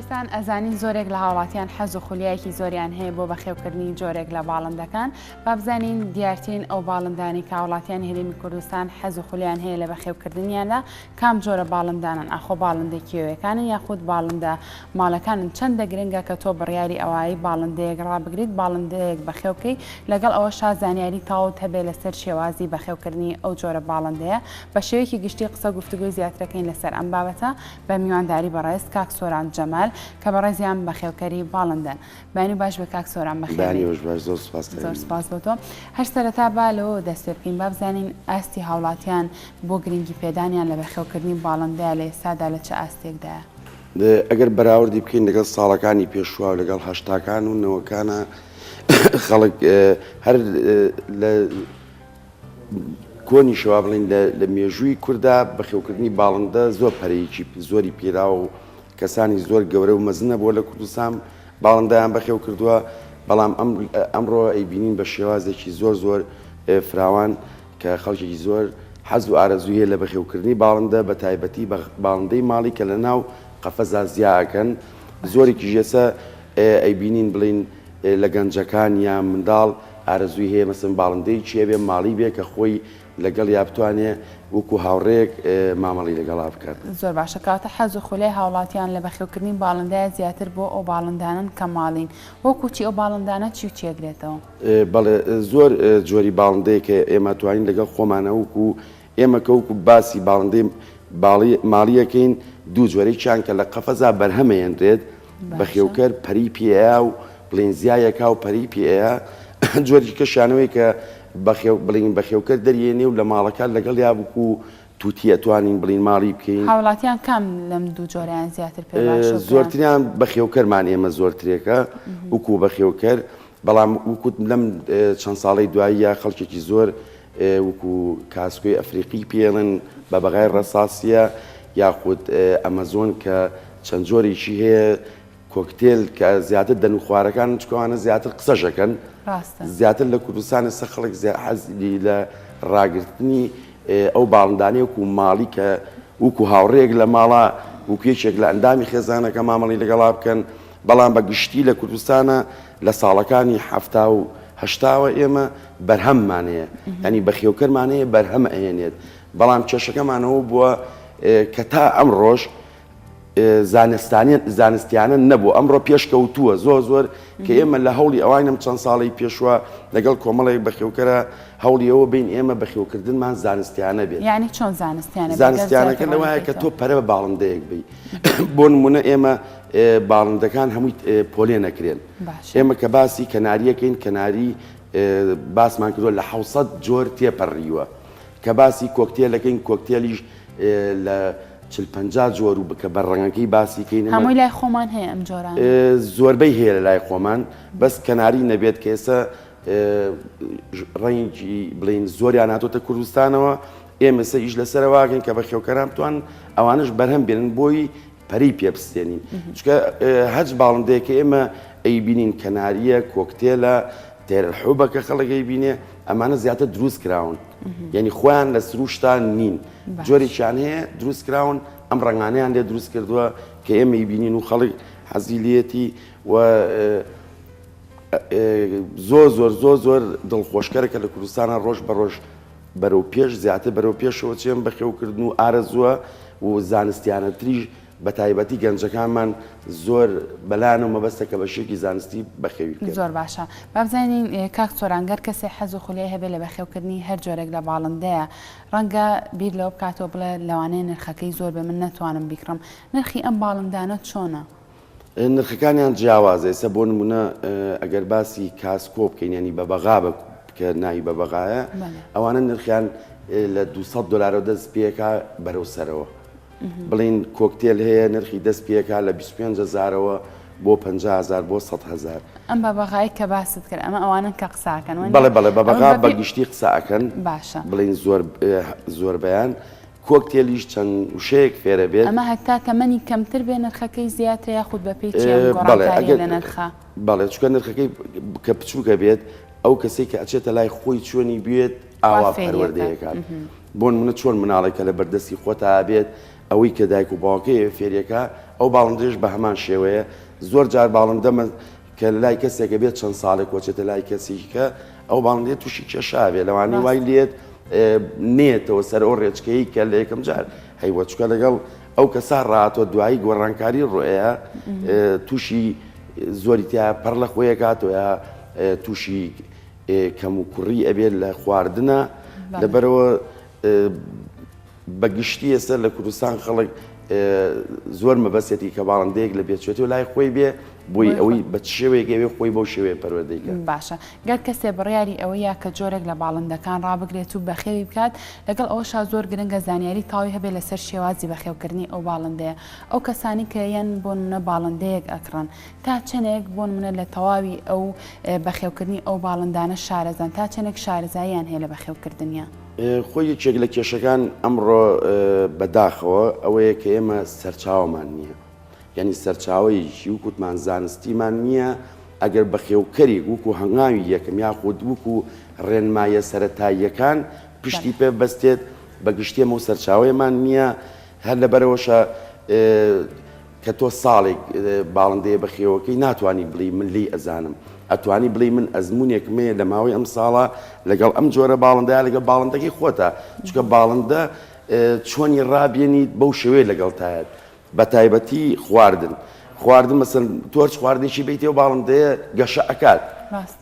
پێویستان ئەزانین زۆرێک لە هاوڵاتیان حەز و خولیایەکی زۆریان هەیە بۆ بەخێوکردنی جۆرێک لە باڵندەکان بابزانین دیارترین ئەو باڵندانی کاوڵاتیان هەرێمی کوردستان حەز و خولیان هەیە لە بەخێوکردنیاندا کام جۆرە باڵندانەن ئاخۆ باڵندە کێویەکانن یاخود باڵندە ماڵەکانن چەندە گرنگە کە تۆ بڕیاری ئەوایی باڵندەیەک ڕابگریت باڵندەیەک بەخێو بکەی لەگەڵ ئەوەشا زانیاری تەواوت هەبێ لەسەر شێوازی بەخێوکردنی ئەو جۆرە باڵندەیە بە شێوەیەکی گشتی قسە گفتوگۆی زیاترەکەین لەسەر ئەم بابەتە بە میوانداری بەڕێز کاک سۆران جەمال کە بەڕێزیان بەخێوکەری باڵندەن. بەیانی و باش بێ کاک سۆران بەخێر بەیانی بێی. وش باش زۆر سوپاس زۆر کەریم. سوپاس بۆ تۆ. هەر سەرەتا با لەوەوە دەست پێ بکەین با بزانین ئاستی هاوڵاتیان بۆ گرنگی پێدانیان لە بەخێو کردنی باڵندەیە لە ئێستادا لە چ ئاستێکدایە؟ ئەگەر بەراوردی بکەین لەگەڵ ساڵەکانی پێشوە و لەگەڵ هەشتاکان و نەوەکانا خەڵک هەر لە کۆنیشە وا بڵێین لە مێژووی کوردا بەخێوکردنی باڵندە زۆر پەرەیەکی زۆری پێراوە و کەسانی زۆر گەورە و مەزنە بۆ لە کوردستان باڵندەیان بەخێو کردووە بەڵام ئەمڕۆ ئەیبینین بە شێوازێکی زۆر زۆر فراوان کە خەڵکێکی زۆر حەز و ئارەزویە لە بەخێوکردنی باڵندە بە تایبەتی بە باڵندەی ماڵی کە لە ناو قەفەزا زیاکەن زۆرێکی ژێسە ئەیبینین بڵین لە گەنجەکان یا منداڵ ئارەزووی هەیە مەسەن باڵندەیەکی هەبێ ماڵی بێ کە خۆی لەگەڵیا بتوانێ وەکوو هاوڕێیەک مامەڵەی لەگەڵا بکات. زۆر باشە کەواتە حەز و خولای هاوڵاتیان لە بەخێوکردنی باڵندەیە زیاتر بۆ ئەو باڵندانەن کە ماڵین وەکوو چی ئەو باڵندانە چی و چی ئەگرێتەوە؟ بەڵێ زۆر جۆری باڵندەیەک هەیە ئێمە توانین لەگەڵ خۆمانە وەکوو ئێمە کە وەکو باسی باڵندەی باڵی ماڵی ئەکەین دوو جۆرە یەکیان کە لە قەفەزا بەرهەم ئەیەنرێت بەخێوکەر پەری پێ ئەیا و بڵێن زیایەکا و پەری پێ ئەیا جۆری کەشانەوەی کە بەخێو بڵین بەخێوکەر دەریێنێ و لە ماڵەکان لەگەڵ یا بکو توتی ئەتوانین بڵین ماڵی بکەین هاوڵاتیان کام لەم دوو جۆریان زیاتر پێ باشە زۆرتریان بەخێوکەرمان ئێمە زۆرترێکە وکو بەخێوکەر بەڵام وکوت لەم چەند ساڵەی دواییە خەڵکێکی زۆر وکو کاسکۆی ئەفریقی پێڵن بە بەغای ڕەساسیە یاخود ئەمەزۆن کە چەند جۆرێکی هەیە کۆکتێل کە زیاتر دەن و خوارەکان چکەوانە زیاتر قسەشەکەن زیاتر لە کوردستان سە خەڵک حەزی لە ڕاگررتنی ئەو باڵندانەیە و ماڵی کە وکو هاوڕێک لە ماڵە وکوێکێک لە ئەندامی خێزانەکە مامەڵی لەگەڵا بکەن بەڵام بە گشتی لە کوردستانا لە ساڵەکانی حەفتا و هەشتاوە ئێمە بەرهەممان هەیە یانی بەخێوکەرمان هەیە بەرهەم ئەهێنێت بەڵام کێشەکەمانەوە بووە کە تا ئەم ڕۆژ زانستانیان زانستیانە نەبوو ئەمڕۆ پێشکەوتووە زۆر زۆر کە ئێمە لە هەوڵی ئەوانم چەند ساڵی پێشوە لەگەڵ کۆمەڵێک بەخێوکەرە هەوڵیەوە بین ئێمە بەخێوکردنمان زانستیانە بێت ینی چۆن زانستیانە زانستیانەکە لەوایە کە تۆ پەرە بە باڵندەیەک بی بۆ نمونە ئێمە باڵندەکان هەمووی پۆلێنە کرێن ئێمە کە باسی کەناریەکەین کەناری باسمان کردوە لە حوسەت جۆر تێپەڕیوە کە باسی کۆکتێلەکەین کۆکتێلیش لە چل پ جۆر و بکە بە ڕەنگەکەی باسی کەین هەمووی لای خۆمان هەیە ئەم جۆرە زۆربەی هەیە لە لای خۆمان بەس کەناری نەبێت کە ئێستا ڕەنگی بڵین زۆریان هاتۆتە کوردستانەوە ئێمەسە ئیش لەسەرواگەن کە بە خێوکەران توان ئەوانش بەرهەم بێنن بۆی پەرەی پێ بستێنین چکە هەچ باڵندەیەکە ئێمە ئەیبینین کەناریە کۆکتێلە تێرەحوبەکە خەڵەکەی بینێ ئەمانە زیاتر دروست کراون یعنی خۆیان لە سروشتان نین جۆرێکیان هەیە دروست کراون ئەم ڕنگانیان لێ دروست کردووە کە ئێمەی بینین و خەڵک حەزیلەتی و زۆر زۆر زۆر زۆر دڵخۆشکەرەکە لە کوردستانە ڕۆژ بە ڕۆژ بەرەو پێش زیاتر بەرەو پێشەوە چێن بەخێو کردن و ئارەزووە و زانستیانەتریش بەتایبەتی گەنجەکانمان زۆر بەلایان و مەبەستە کە بەشێکی زانستی بەخێوی بکەن. زۆر باشە با بزانین کاک سۆران گەر کەسێ حەز و خولیای هەبێ لە بەخێو کردنی هەر جۆرێک لە باڵندەیە ڕەنگە بیر لەوە بکاتەوە بڵێ لەوانەیە نرخەکەی زۆر بێ من نەتوانم بیکڕم نرخی ئەم باڵندانە چۆنە؟ نرخەکانیان جیاوازە ئێستا بۆ نمونە ئەگەر باسی کاسکۆ بکەین ینی بە بەغا بە کە ناوی بە بەغایە ئەوانە نرخیان لە 200 دلارەوە دەست پێکا بەرەو سەرەوە بڵین کۆکتێل هەیە نرخی دەست پێکا لە 25 هزارەوە بۆ 500هزار بۆ 100هزار ئەم بە بەغای کە باست کرد ئەمە ئەوانن کە قساکەن بەڵێ بەڵێ بە بەغا بە گشتی قساکەن باشە بڵین زۆر زۆربیان کۆکتێلیش چەند وشەیەک فێرە بێت. ئەمە هەتا تەمەنی کەمتر بێ نرخەکەی زیاترە یاخود بەپێی چی ئەم گۆڕانکاریە لە نرخە؟ بەڵێ چونکە نرخەکەی کە بچوکە بێت ئەو کەسەی کە ئەچێتە لای خۆی چۆنی بوێت ئاوا پەروەردەی ئەکات بۆ نمونە چۆن مناڵێک کە لە بەردەستی خۆتا بێت ئەوەی کە دایک و باوکەی فێریەکا ئەو باڵندەش بە هەمان شێوەیە زۆر جار باڵندە کە لای کەسێکە بێت چەند ساڵێک وەچێتە لای کەسیکە ئەو باڵندەیە تووشی کێشاوێ لەوانی وای لێت نێتەوە سەر ئەو ڕێچکەی کە لە یەکەم جار هەیوەچکە لەگەڵ ئەو کەسا ڕاتۆ دوایی گۆڕانکاری ڕۆیە تووشی زۆری تیا پەر لە خۆیە کاتۆە تووشی کەم و کوڕی ئەبێت لە خواردنە لەبەرەوە بە گشتی ئێستا لە کوردستان خەڵک زۆر مەبەستێتی کە باڵندەیەک لە بێچێتی و لای خۆی بێ بۆی ئەوەی بە شێوەیەک ئەوێ خۆی بەو شێوەیە پەروەردەی کرد باشە گەر کەسێ بڕیاری ئەوە یا کە جۆرێک لە باڵندەکان ڕابگرێت و بەخێوی بکات لەگەڵ ئەوە شا زۆر گرنگە زانیاری تاوی هەبێ لەسەر شێوازی بەخێوکردنی ئەو باڵندەیە ئەو کەسانی کە یەن بۆ منە باڵندەیەک ئەکڕن تا چەندێک بۆ منە لە تەواوی ئەو بەخێوکردنی ئەو باڵندانە شارەزان تا چەندێک شارزاییان هەیە لە بەخێوکردنیان. خۆی یەکێک لە کێشەکان ئەمڕۆ بە داخەوە ئەوەیە کە ئێمە سەرچاومان نییە یعنی سەرچاوەیەکی وکوتمان زانستیمان نییە ئەگەر بەخێوکەری وکو هەنگاوی یەکەم یاخود وکو ڕێنمایە سەتاییەکان پشتی پێ بەستێت بە گشتێمە و سەرچاوەیەمان نییە هەر لەبەرەوەشە کە تۆ ساڵێک باڵندەیە بەخێوەکەی ناتوانی بڵێی من لێی ئەزانم ئەتوانی بڵێی من ئەزمونێکم هەیە لە ماوەی ئەم ساڵە لەگەڵ ئەم جۆرە باڵندەیە لەگەڵ باڵندەکەی خۆتە چکە باڵندە چۆنی ڕابێنیت بەو شێوەیە لەگەڵتایەت بە تایبەتی خواردن خواردن مەسن تۆرچ خواردێکی بیتێ و باڵندەیە گەشە ئەکات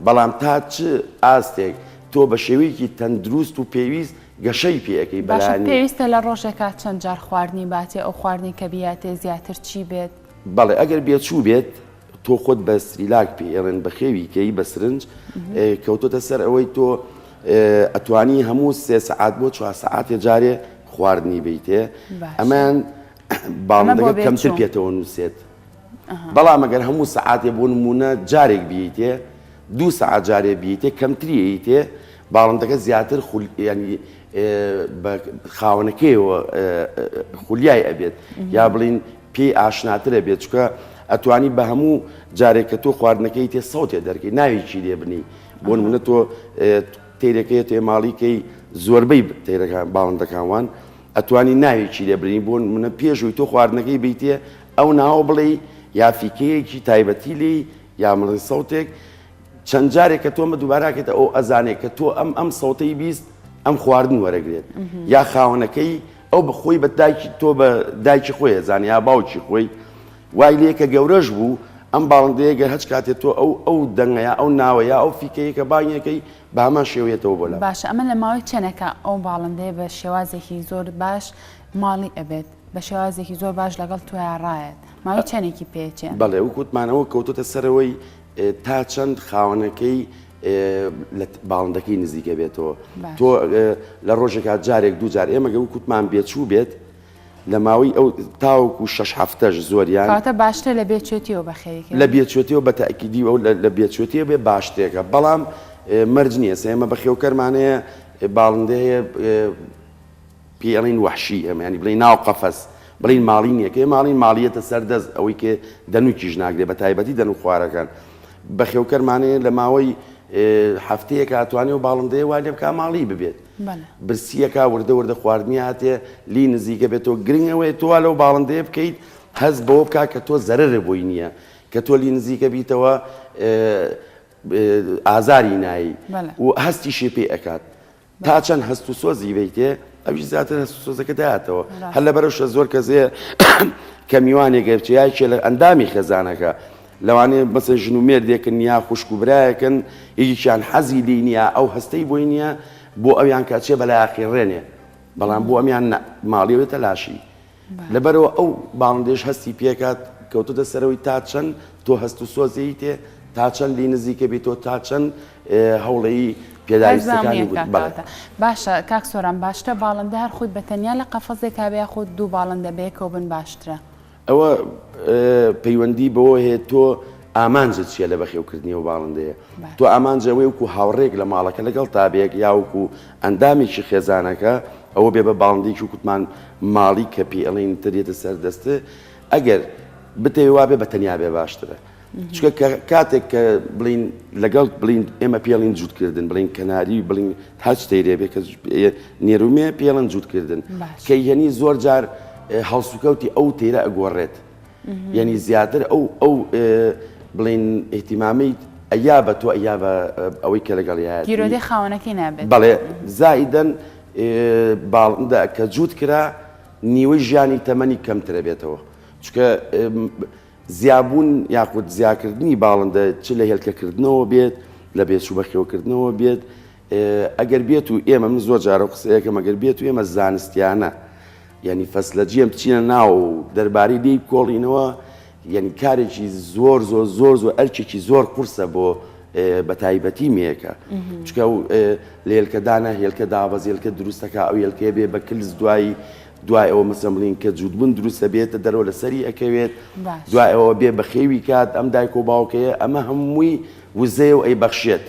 بەڵام تا چ ئاستێک تۆ بە شێوەیەکی تەندروست و پێویست گەشەی پێ ئەکەی باشە بەلانی. پێویستە لە ڕۆژێکا چەند جار خواردنی باتێ ئەو خواردنەی کە بیاتێ زیاتر چی بێت؟ بەڵێ ئەگەر بێچوو بێت تۆ خۆت بە سریلاک پێ ئێڵێن بەخێوی کەی بە سرنج کەوتۆتە سەر ئەوەی تۆ ئەتوانی هەموو سێ سەعات بۆ چوار سەعاتێ جارێ خواردنی بیتێ ئەمان باڵندەکە کەمتر پێتەوە نووسێت. بەڵام ئەگەر هەموو سەعاتێ بۆ نمونە جارێک بیتێ دوو سەعات جارێ بیتێ کەمتریی تێ باڵندەکە زیاتر ینی خاونەکەیەوە خولیای ئەبێت یا بڵین پێی ئاشناترە بێت چکە ئەتوانی بە هەموو جارێک کە تۆ خواردنەکەی تێ سەوتێ دەرکەی ناوێکی لێ بنی بۆ نمونە تۆ تێرەکەی تێماڵیکەی زۆربەی تێرەکان باڵندەکانوان ئەتوانی ناوێکی لێ بنێی بۆ نمونە پێشوی تۆ خواردنەکەی بیتێ ئەو ناوە بڵێی یا فیکەیەکی تایبەتی لێی یا مڵی سەوتێک چەند جارێک کە تۆمە دووباراکێتە ئەو ئەزانێک کە تۆ ئەم ئەم سەوتەی بیست ئەم خواردن وەرەگرێت یا خاوەنەکەی ئەو بەخۆی بە دایکی تۆ بە دایکی خۆی ئەزانێ یا باوکی خۆی وای لێ کە گەورەش بوو، ئەم باڵندەیە گەر هەچ کاتێ تۆ ئەو ئەو دەنگە یا ئەو ناوە یا ئەو فیکەیە کە بانگی ئەکەی بە هەمان شێوە یەتەوە بۆ لام. باشە ئەمە لە ماوەی چەنێکا ئەو باڵندەیە بە شێوازێکی زۆر باش ماڵی ئەبێت بە شێوازێکی زۆر باش لەگەڵ تۆیا ڕایەت ماوەی چەنێکی پێچێ؟ بەڵێ وەک وتمانەوە کەوتۆتە سەرەوەی تا چەند خاوەنەکەی لە باڵندەکەی نزیکە بێتەوە تۆ لە ڕۆژێکا جارێک دوو جار ئێمە گە وکوتمان بێچوو بێت لە ماوەی ئەو تاوەکو شەش هەفتەش زۆریان. کەواتە باشترە لە بێچوێتییەوە بە خێوی کەوێ. لە بێچوێتییەوە بە تەئکیدی ئەو لە بێچوێتییە بێ باشترێکە، بەڵام مەرج نییە. سە ئێمە بە خێوکەرمان هەیە، باڵندە هەیە پێی ئەڵێین وەحشی، ئێمە یانی بڵێین ناو قەفەس، بڵێین ماڵی نییە. کە ئێمە ئەڵێین ماڵییەتە سەر دەست، ئەوەی کە دەنووکیش ناگرێ، بە تایبەتی دەنووکخوارەکان. بە خێوکەرمان هەیە لە ماوەی هەفتەیەکا ئەتوانێ ئەو باڵندەیە وا لێ بکا ماڵی ببێت. بەلە. برسیەکە وردە وردە خواردنی هاتێ لی نزیکە بێ تۆ گرنگ ئەوەیە تۆ وا لەو باڵندەیە بکەیت هەست بەوە بکا کە تۆ زەرەرە بۆی نیە کە تۆ لی نزیکە بیتەوە ئازاری نایی و هەستیشی پێ ئەکات تا چەند هەست و سۆزی بیتێ ئەویش زیاتر هەست و سۆزەکە داتەوە هەر لە بەرەوشە زۆر کەزێ کە میوانێک گەرچیایکێ لە ئەندامی خێزانەکە لەوانەیە مەسەن ژن و مێردێکن یا خوشک و برایەکن یەکێکیان حەزی لێی نییە ئەو هەستەی بۆی نییە بۆ ئەویان کە ئەچێ بەلای ئەقیڕێنێ بەڵام بۆ ئەمیان نە ماڵی ئەوێ تەلاشی لەبەرەوە ئەو باڵندەیەش هەستی پێکات کەوتۆتە سەرەوەی تا چەند تۆ هەست و سۆزێی تێ تا چەند لی نزیکە بێت تۆ تا چەند هەوڵەی پێداویستەکانی بووت بەڵێ. هەرزانیەکە کاکە. باشە کاک سۆران باشترە باڵندە هەر خۆی بە تەنیا لە قەفەزێکا بێ یاخود دوو باڵندە بەیەکەوە بن باشترە؟ ئەوە پەیوەندی بەوە هەیە تۆ ئامانجت چیە لە بەخێوکردنی و باڵندەیە تۆ ئامانجە وەی وکو هاوڕێک لە ماڵەکە لەگەڵ تابێک یاوکو ئەندامێکی خێزانەکە ئەوە بێ بە باڵندێکی و کوتمان ماڵی کە پێڵین ترێتە سەردەستێ ئەگەر بتەوێ وابێ بە تەنیا بێ باشترە. چکە کاتێک کە بڵین لەگەڵ بڵین ئێمە پێڵین جووتکردن بڵین کەناری بڵین هەچ تەیرێ بێ کە نێرومێ پێڵن جووتکردن کە یەنی زۆر جار هەڵسوکەوتی ئەو تێرە ئەگۆڕێت یعنی زیاتر ئەو ئەو بڵین احتیمامی ئەیا بە تۆ ئەیا بە ئەوەی کە لەگەڵ یاگیرۆدی خاونەکەی نابێت بەڵێ زائیدەن باڵدا کە جووت کرا نیوەی ژیانی تەمەنی کەمترە بێتەوە چکە زیابوون یاخود زیاکردنی باڵندە چ لە هێلکەکردنەوە بێت، لە بێچوو بەخێوکردنەوە بێت، ئەگەر بێت و ئێمە من زۆر جارە و قسەیەکەم ئەگەر بێت و ئێمە زانستیانە یعنی فەسلە جیێم بچینە ناو و دەربارەی لێی بکۆڵینەوە یعنی کارێکی زۆر زۆر زۆر زۆر ئەرکێکی زۆر قورسە بۆ بە تایبەتی مێکە چکە لە هێلکەدانە هێلکە دابەزێلکە دروستەکە ئەو هێلکەیە بێ بە کلس دوایی دوای ئەوە مەسە ملین کە جووتبن دروست دەبێتە دەرەوە لە سەری ئەکەوێت دوای ئەوە بێ بەخێوی کات ئەم دایک و باوکەیە ئەمە هەمووی وزەیە و ئەی بەخشێت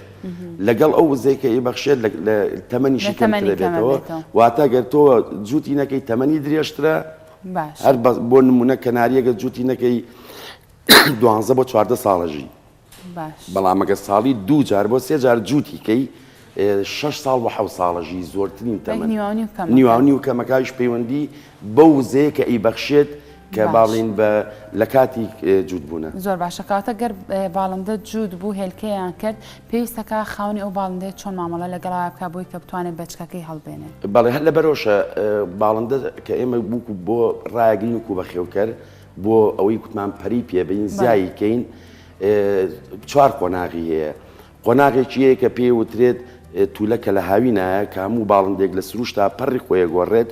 لەگەڵ ئەو وزەی کە ئی بەخشێت لە تەمەنیشی کەمەنێتەوە واتە گەر تۆ جووتی نەکەی تەمەنی درێژترە هەر بۆ نمونە کەناریەگە جووتی نەکەی دوانزە بۆ چواردە ساڵەژی بەڵام ئەگەر ساڵی دوو جار بۆ سێ جار جووتی کەی شش ساڵ بە حەو ساڵەژی زۆرترین تەمە نیوانی و کەمەکایش پەیوەندی بەو وزەیە کە ئی بەخشێت کە باڵین بە لە کاتی جوود بوونە زۆر باشەکاتە گەر باڵندە جوود بوو هێلکەیان کرد پێویستەکە خاونی ئەو باڵندەی چۆن مامەڵە لەگەڵا بکە بۆی کە بتوانێت بەچکەکەی هەڵبێنێت بەڵێ هەر لە بەرۆشە باڵندە کە ئێمە بووکو بۆ ڕایگرین و کو بە خێوکەر بۆ ئەوەی کوتمان پەری پێبین زیایی کەین چوار قۆناغی هەیە قۆناغێکی هەیە کە پێی وترێت تولە کە لە هاوی نایە کە هەموو باڵندێک لە سروشتا پەڕی خۆیە گۆڕێت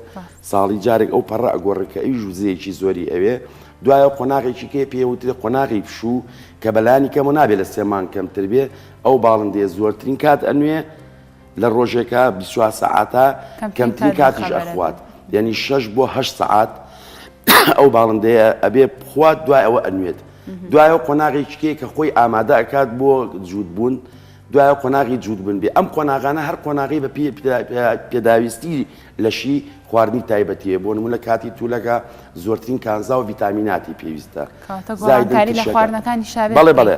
ساڵی جارێک ئەو پەڕە ئەگۆڕێت کە ئەوی ژوزەیەکی زۆری ئەوێ دوایە قۆناغێکی کێ پێ وترێ قۆناغی پشوو کە بەلانی کەمە نابێت لە سێمان کەمتر بێ ئەو باڵندێ زۆرترین کات ئەنوێ لە ڕۆژێکا بیست و چوار سەعاتە کەمترین کاتیش ئەخوات یعنی شەش بۆ هەشت سەعات ئەو باڵندەیە ئەبێ بخوات دوای ئەوە ئەنوێت دوای ئەو قۆناغی چکەیە کە خۆی ئامادە ئەکات بۆ جووت بوون دوای قۆناغی جووت بن بێ ئەم قۆناغانە هەر قۆناغی بە پێ پێداویستی لەشی خواردنی تایبەتیە بۆ نمونە کاتی تولەکە زۆرترین کانزا و ڤیتامیناتی پێویستە زایداری لە خواردنەکانی شابێ بەڵێ بەڵێ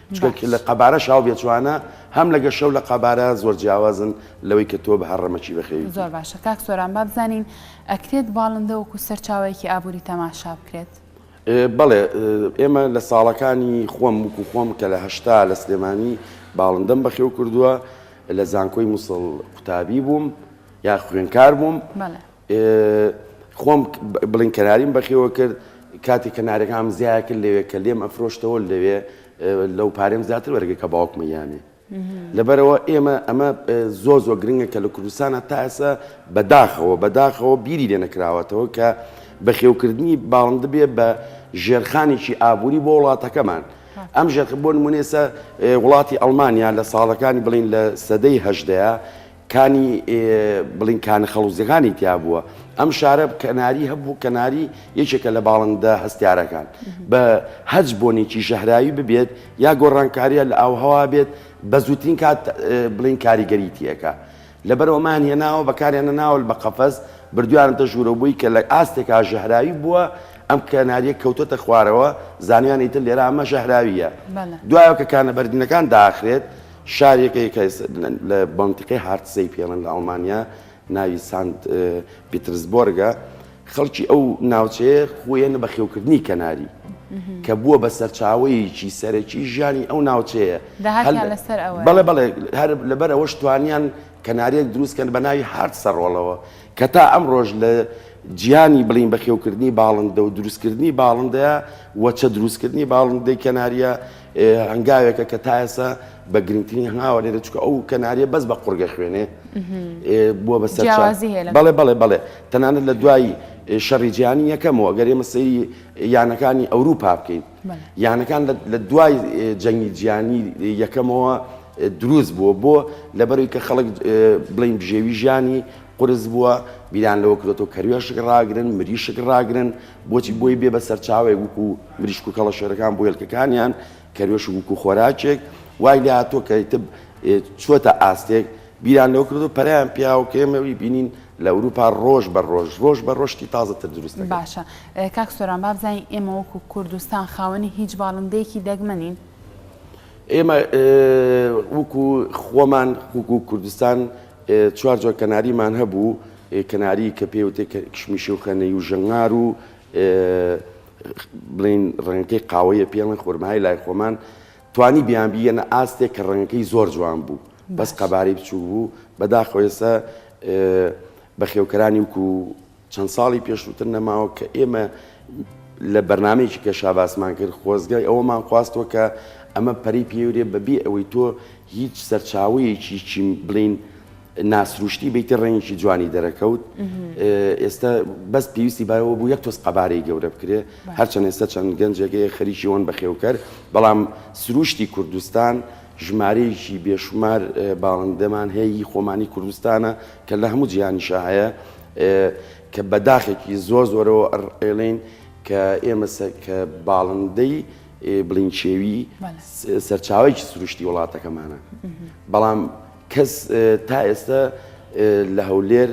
چونکە باش. لە قەبارە شاو بێ جوانە هەم لەگە شەو لە قەبارە زۆر جیاوازن لەوەی کە تۆ بە هەر ڕەمەکی بە خێوی زۆر باشە کاک سۆران با بزانین ئەکرێت باڵندە وەکو سەرچاوەیەکی ئابووری تەماشا بکرێت؟ بەڵێ ئێمە لە ساڵەکانی خۆم وکو خۆم کە لە هەشتا لە سلێمانی باڵندەم بەخێو کردووە لە زانکۆی موسڵ قوتابی بووم یا خوێنکار بووم بەڵێ. خۆم بڵین کەناریم بەخێوە کرد کاتی کەنارەکانم زیایە کرد لەوێ کە لێم ئەفرۆشتەوە لەوێ لەو پارێم زیاتر وەرگە کە باوکمە یانێ لەبەرەوە ئێمە ئەمە زۆ زۆ گرنگە کە لە کوردستانە تا ئێسا بەداخەوە بەداخەوە بیری لێ نەکراوەتەوە کە بەخێوکردنی باڵندە بێ بە ژێرخانێکی ئابووری بۆ وڵاتەکەمان ئەم ژێرخ بۆ نمونێسە وڵاتی ئەڵمانیا لە ساڵەکانی بڵین لە سەدەی هەشدەیە کانی بڵین کانە خەڵوزیەکانی تیابووە ئەم شارە کەناری هەبوو کەناری یەکێکە لە باڵندە هەستیارەکان بە هەج بۆنێکی ژەهراوی ببێت یا گۆڕانکاریە لە ئاوهەوا بێت بە زووترین کات بڵین کاریگەریتیەکە لەبەرەوەمان هێناوە بەکاریان نەناول بە قەفەز بردویانتە ژوورەوەی کە لە ئاستێکا ژەهراوی بووە ئەم کەناریە کەوتەتە خوارەوە زانیان ئیتر لێرە ئەمە ژەهراویە دوایە کە کانە بەردینەکان داخرێت شارێکە کە لە مەنتیقەی هارتزەیپێڵن لە ئەڵمانیا، ناوی سانت پیترسبۆرگە. خەڵکی ئەو ناوچەیە خۆیان بەخێوکردنی کەناری، کە بووە بە سەرچاوەیەکی سەرەکی ژیانی ئەو ناوچەیە. داهاتیان لەسەر ئەوەیە. بەڵێ بەڵێ، هەر لەبەر ئەوەش توانیان کەنارییەک دروست بکەن بە ناوی هارتسەڕۆڵەوە، کە تا ئەمڕۆش لە جیهانی بڵێین بەخێوکردنی باڵندە و دروستکردنی باڵندەیە، وەچە دروستکردنی باڵندەی کەنارییە، هەنگاوێکە کە تا ئێستا بە گرنگترین هەنگاوە لێرە چکە ئەو کەناریە بەس بە قڕگە خوێنێ بووە بە سەر بەڵێ بەڵێ بەڵێ تەنانەت لە دوایی شەڕی جیانی یەکەمەوە گەر ئێمە سەیری یانەکانی ئەوروپا بکەین یانەکان لە دوای جەنگی جیانی یەکەمەوە دروست بووە بۆ لەبەری کە خەڵک بڵین بژێوی ژیانی قرس بووە بیران لەوە کرێتەوە کەروێشک ڕاگرن مریشک ڕاگرن بۆچی بۆی بێ بە سەرچاوەیەک وکو مریشک و کەڵەشێرەکان بۆ هێلکەکانیان کەروێش وکو خۆراکێک وای لێ هاتووە کە تب چۆتە ئاستێک بیران لەو کردو پەریان پیاو کێمەوی بینین لە ئەوروپا ڕۆژ بە ڕۆژ ڕۆژ بە ڕۆشتی تازەتر دروست باشە کاک سۆران بابزانین ئێمە وەکو کوردستان خاوەنی هیچ باڵندەیەکی دەگمەنین ئێمە وەکو خۆمان وکو کوردستان چوار جۆر کەناریمان هەبوو کەناری کە پێی وتێ کشمیشی و خەنەی و ژەنگار و بڵێین ڕەنگەکەی قاوەیە پێڵێن خۆرمای لای خۆمان توانی بیان بیەنە ئاستێک کە ڕەنگەکەی زۆر جوان بوو بەس قەبارەی بچوو بوو بەداخۆێسە بەخێوکەرانی وکو چەند ساڵی پێشووتر نەماوە کە ئێمە لە بەرنمەیەکی کە شاباسمان کرد خۆزگای ئەوەمان خواستەوە کە ئەمە پەری پێورێ بەبێ ئەوەی تۆ هیچ سەرچاوەیەکی چیم بڵین ناسروشتی بیتی ڕەنگێکی جوانی دەرەکەوت ئێستا بەس پێویستی بایەوە بوو یەک تۆز قەبارەی گەورە بکرێ هەرچەند ئێستا چەند گەنجێکەیە خەریکی ئەوەن بەخێوکەر بەڵام سروشتی کوردستان ژمارەیەکی بێشمار باڵندەمان هەیە خۆمانی کوردستانە کە لە هەموو جیهانیشە هەیە کە بەداخێکی زۆر زۆرەوە ئەڵێین کە ئێمە کە باڵندەی بڵینچێوی سەرچاوێکی سروشتی وڵاتەکەمانە بەڵام کەس تا ئێستا لە هەولێر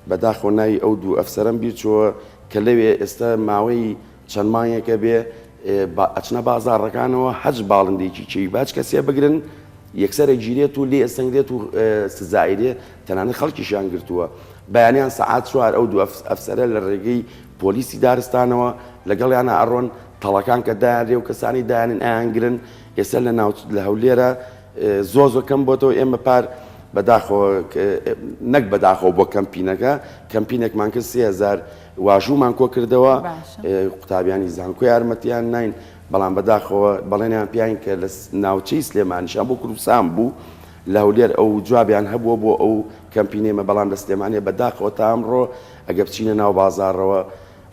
بەداخەوە ناوی ئەو دوو ئەفسەرەم بیرچۆوە کە لەوێ ئێستا ماوەی چەند مانگێکە بێ ئەچنە بازاڕەکانەوە هەچ باڵندێکی چێوی باج کەسێ بگرن یەکسەرە گیرێت و لێ ئەسەنگرێت و سزایرێ تەنانە خەڵکیشیان گرتووە بەیانیان سەعات چوار ئەو دوو ئەفسەرە لە ڕێگەی پۆلیسی دارستانەوە لەگەڵیانە ئەڕۆن تەڵەکان کە دایانرێ و کەسانی دایانن ئایانگرن ئێستا لە ناو لە هەولێرە زۆر زۆر کەم بۆتەوە ئێمە پار بەداخەوە نەک بەداخەوە بۆ کەمپینەکە کەمپینێکمان کرد سێ هزار واژوومان کۆ کردەوە قوتابیانی زانکۆ یارمەتیان نین بەڵام بەداخەوە بەڵێنیان پیاین کە لە ناوچەی سلێمانیشان بۆ کوردستان بوو لە هەولێر ئەو جوابیان هەبووە بۆ ئەو کەمپینێمە بەڵام لە سلێمانە بەداخەوە تا ئەمڕۆ ئەگە بچینە ناو بازارەوە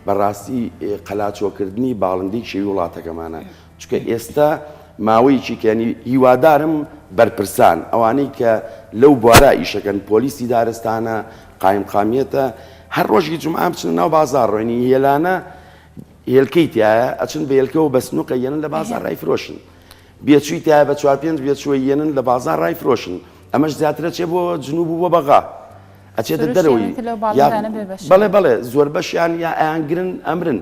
بەڕاستی قەلاچۆکردنی باڵندەی شێوی وڵاتەکەمانە چونکە ئێستا ماوەیەکی کەنی هیوادارم بەرپرسان ئەوانەی کە لەو بوارە ئیشەکەن پۆلیسی دارستانە قایمقامیەتە هەر ڕۆژی جمعە بچنە ناو بازار ڕۆینی هێلانە هێلکەی تایە ئەچن بە هێلکەوە بە سنووقە یەنن لە بازار ڕای فرۆشن بێچووی تایە بە چوار پێنج بێچووە یەنن لە بازار ڕای فرۆشن ئەمەش زیاترە چێ بۆ جنوب و بۆ بەغا ئەچێتە دەرەوەی بەڵێ بەڵێ زۆر بەشیان یا ئەیانگرن ئەمرن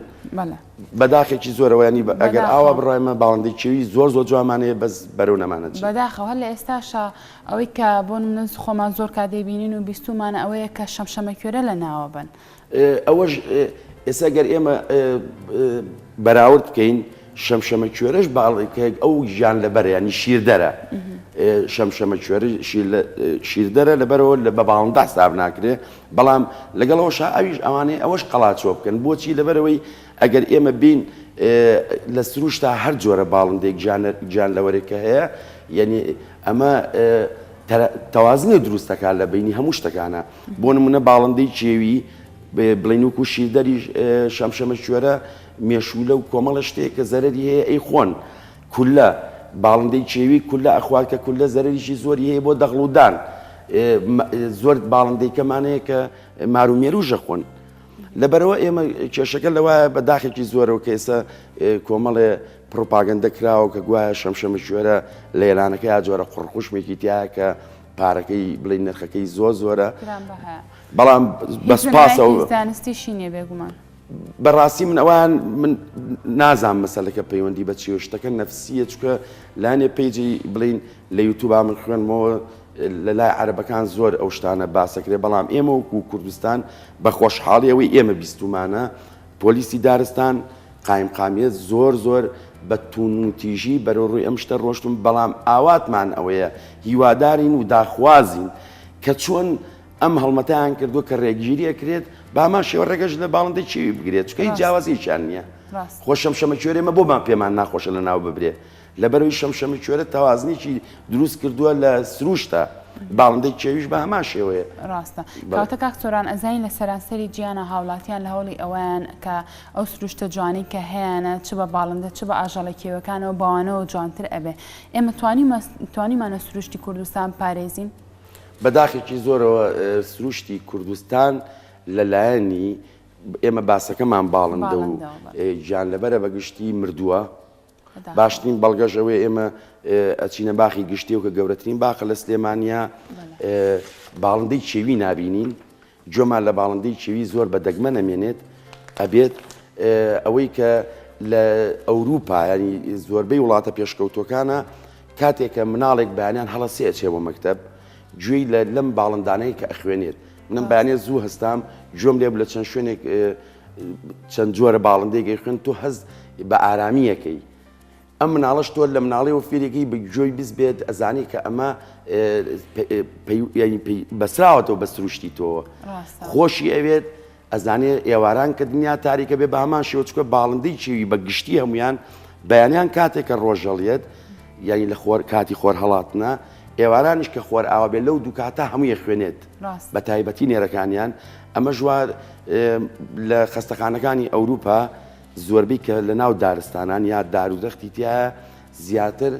بەداخێکی زۆرەوە ینی ئەگەر ئاوا بڕایمە باڵندەی کێوی زۆر زۆر جوانمان هەیە بەس بەرەو نەمانە جێ بەداخەوە هەر لە ئێستاشا ئەوەی کە بۆ منە خۆمان زۆر کا دەیبینین و بیستومانە ئەوەیە کە شەمشەمەکوێرە لە ناوە بن ئەوەش ئێستا گەر ئێمە بەراورد بکەین شەمشەمە کوێرەش باڵێکێک ئەو ژیان لەبەریانی شیردەرە شەمشەمە کوێری شیردەرە لەبەرەوە لە بە باڵندا حساب ناکرێ بەڵام لەگەڵ ئەوەشا ئەویش ئەوانەی ئەوەش قەڵاچۆ بکەن بۆچی لەبەرئەوەی ئەگەر ئێمە بین لە سروشتا هەر جۆرە باڵندەیەک گیانلەوەرێک کە هەیە یەنی ئەمە تەوازنێ دروستەکە لە بینی هەموو شتەکانە بۆ نمونە باڵندەی کێوی بڵین وکو شیردەری شەمشەمە شوێرە مێشولە و کۆمەڵە شتێک کە زەرری هەیە ئەی خۆن کولە، باڵندەی کێوی کولە ئەخوات کە کولە زەرەریی زۆری هەیە بۆ دەغڵ و دان. زۆر باڵندەی کەمان هەیە کە مار و مێرووژ ئەخۆن. لەبەرئەوە ئێمە کێشەکە لەوایە بە داخێکی زۆرەوە کە ئێستا کۆمەڵێ پڕوپاگەندە کراوە کە گوایە شەمشەمەکوێرە لە ئێرانەکە یا جۆرە قڕقوشمێکی تیایە کە پارەکەی بڵێی نرخەکەی زۆر زۆرە. گرانبەهایە. بەڵام بە سوپاسەوە. هیچ بنەمایەکی زانستیشی نییە بێگومان. بەڕاستی من ئەوان من نازان مەسەلەکە پەیوەندی بە چێ شتەکە نەفسیە چکە لانێ پێیجی بڵین لە یوتوبا من خوێنمەوە لە لای عربەکان زۆر ئەو شتانە باسەکرێ بەڵام ئێمە وکو و کوردستان بە خۆشحاڵی ئەوەی ئێمە بیستمانە پۆلیسی دارستان قایم قامیت زۆر زۆر بە تون و تیژی بەرە ڕووی ئەم شتە ڕۆشتم بەڵام ئاواتمان ئەوەیە هیوادارین و داخوازین کە چۆن ئەم هەڵمەتیان کردو کە ڕێگیری ئەکرێت بامان شێوە ڕێگەش لە باڵندەی چێوی بگرێت چکە هیچ جیاوازیشان نییە خۆ شەمشەمە کوێرێمە بۆمان پێمان ناخۆشە لە ناو ببرێ لەبەرەوەی شەمشەمە کوێرە تەوازنێکی دروست کردووە لە سروشتە باڵندەی چێویش بە هەمان شێوەیە ڕاستە کاتە کاک سۆران ئەزانی لە سەرانسەری گیانە هاوڵاتیان لە هەوڵی ئەویان کە ئەو سروشتە جوانی کە هەیەە چ بە باڵندە چ بە ئاژەڵە کێوەکانەوە باوانەوە جوانتر ئەبێ ئێمە توانی توانیمانە سروشتی کوردستان پارێزین بە داخێکی زۆرەوە سروشتی کوردستان لە لایەنی ئێمە باسەکەمان باڵندە و گیان لەبەرە بە گشتی مردووە باشترین بەڵگەش ئەوەی ئێمە ئەچینە باخی گشتی و کە گەورەترین باخە لە سلێمانیا باڵندەی چێوی نبینین جۆمان لە باڵندەی کێوی زۆر بە دەگمەن ئەمێنێت ئەبێت ئەوەی کە لە ئەوروپا ینی زۆربەی وڵاتە پێشکەوتوەکانە کاتێکە مناڵێک بەیانیان هەڵە سێ ئەچێ بۆ مەکتب گوێی لە لەم باڵندانەیە کە ئەخوێنێت منم بەیانێ زوو هەستام گوێم لێب لە چەند شوێنێک چەند جۆرە باڵندێکی خوێن تۆ هەز بە ئارامیەکەی ئەم مناڵەش تۆ لە مناڵی و فیرێکی بە گوێی بز بێت ئەزانی کە ئەمە بەسراوەتەوە بە سروشتی تۆوە خۆشی ئەوێت ئەزانێ ئێواران کە دنیا تاریکە بێ بامان شێوچکە باڵندەی چێوی بە گشتی هەمویان بەیانیان کاتێک کە ڕۆژەڵیت یعنی لە خۆر کاتی خۆر هەڵاتنە ئێوارانش کە خۆر ئاوا بێ لەو دوکاتە هەمووی خوێنێت بە تایبەتی نێرەکانیان ئەمە ژوار لە خستەخانەکانی ئەوروپا زۆربەی کە لە ناو دارستانان یا دار و دەختی تیایە زیاتر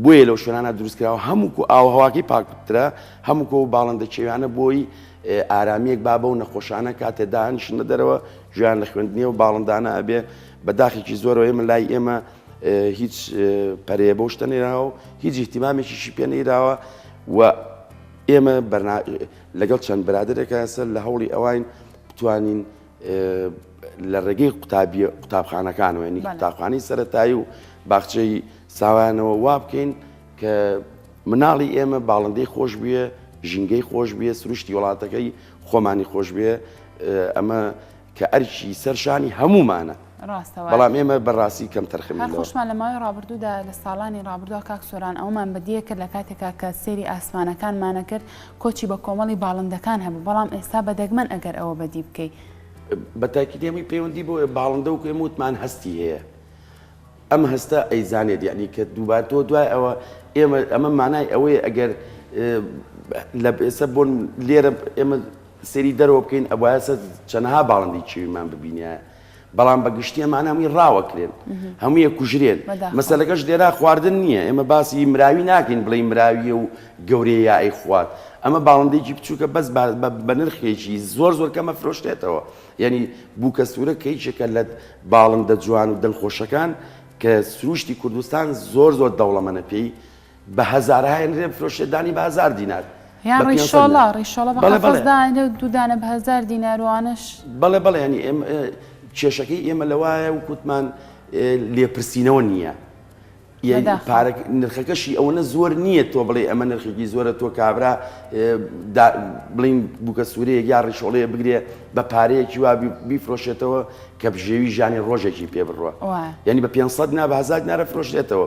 بۆیە لەو شوێنانە دروستکراوە هەمووکو ئاوهواکەی پاکترە هەمووکۆ و باڵندە کێویانە بۆی ئارامیەک بابە و نەخۆشانە کاتێ دانیشنە دەرەوە ژیان لە خوێندنی و باڵندانە ئەبێ بەداخێکی زۆرەوە ئێمە لای ئێمە هیچ پەرەیە بۆ شتە نێراوە و هیچ احتیمامێکیشی پێ نەیراوە و ئێمە لەگەڵ چەند برادێکە سەر لە هەوڵی ئەوین بتوانین لە ڕێگەی قوتابخانەکانەوە ینی قوتابخانەی سەتایی و باخچەی ساوانەوە وا بکەین کە مناڵی ئێمە باڵندەی خۆش بووە ژینگەی خۆش بێ سروشتی وڵاتەکەی خۆمانی خۆش بێ ئەمە کە ئەرکی سەرشانی هەمومانە ڕاستە وایە. بەڵام ئێمە بە ڕاستی کەم تەرخەم هەر بینەوە. خۆشمان لە ماوەی ڕابردوودا لە ساڵانی ڕابردووە کاک سۆران ئەوەمان بەدیە کرد لە کاتێکا کە سەیری ئاسمانەکانمانە کرد کۆچی بە کۆمەڵی باڵندەکان هەبوو بەڵام ئێستا بە دەگمەن ئەگەر ئەوە بەدی بکەی. بە تاکید ئێمەی پەیوەندی بۆ باڵندە وەکو ئێمە وتمان هەستی هەیە ئەم هەستە ئەیزانێت یەعنی کە دووبار تۆ دوای ئەوە ئێمە ئەمە مانای ئەوەیە ئەگەر لە ئێستا بۆن لێرە ئێمە سەیری دەرەوە بکەین ئەبوایە سە چەنەها باڵندەی چێویمان ببینایە بەڵام بە گشتی ئەمانە هەمووی ڕاوەکرێن هەموویە کوژرێن مەسەلەکەش لێرا خواردن نییە ئێمە باسی مراوی ناکەین بڵێ مراویە و گەورەیە یا ئەی خوارد ئەمە باڵندێکی بچووکە بەس بە نرخێکی زۆر زۆر کەمە فرۆشتێتەوە یعنی بووکە سوورە کەیچێکە لە باڵندە جوان و دڵخۆشەکان کە سروشتی کوردستان زۆر زۆر دەوڵەمەە پێی بە هەزار هاێنرێ بفرۆشێ دانی بە هەزار دینار یان بە پێنج سەد ڕیشۆڵە نەر. ڕیشۆڵە بە بەڵێ، قەفەز بەڵێ. دائەنێ و دوو دانە بە هەزار دینار و ئانەش بەڵێ بەڵێ یانی ئێم ئێ کێشەکەی ئێمە لەوایە وەک وتمان ئێ لێپرسینەوە نییە یەی بەداخەوە. پارە نرخەکەشی ئەوەنە زۆر نییە تۆ بڵێ ئەمە نرخێکی زۆرە تۆ کابرا ئێ دا بڵێین بووکە سوورەیەک یا ڕیشۆڵەیە بگرێ بە پارەیەکی وا بی بیفرۆشێتەوە کە بژێوی ژانی ڕۆژێکی پێ بڕوا وایە. یانی بە پێنج سەد نا بە هەزار دینارە فرۆشرێتەوە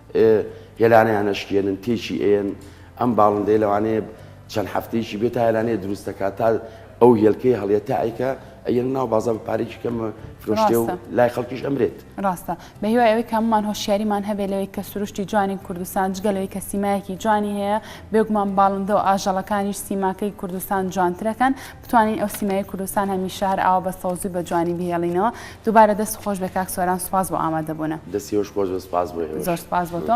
ئێ هێلانە یان ئەشکێنن تێکی ئەیەن ئەم باڵندەیە لەوانەیە چەند هەفتەیەکی بێ تا هێلانەیە دروست دەکات تا ئەو هێلکەی هەڵیە تا ئەیکە ئەیەن ناو بازار بە پارەیەکی کەم فرۆشتێ و ڕاستە لای خەڵکیش ئەمرێت. ڕاستە بە هیوای ئەوەی کە هەموومان هۆشیاریمان هەبێت لەوەی کە سروشتی جوانی کوردستان جگە لەوەی کە سیمایەکی جوانی هەیە بێگومان باڵندە و ئاژەڵەکانیش سیماکەی کوردستان جوانترەکەن. بتوانین ئەو سیمای کوردستان هەمیشە هەر ئاوا بە سەوزی و بە جوانی بهێڵینەوە دووبارە دەست خۆش بێ کاک سۆران سوپاس بۆ ئامادە بوونە. دەستی ئێوەش خۆش بێ سوپاس بۆ ئێوەش. زۆر سوپاس بۆ تۆ.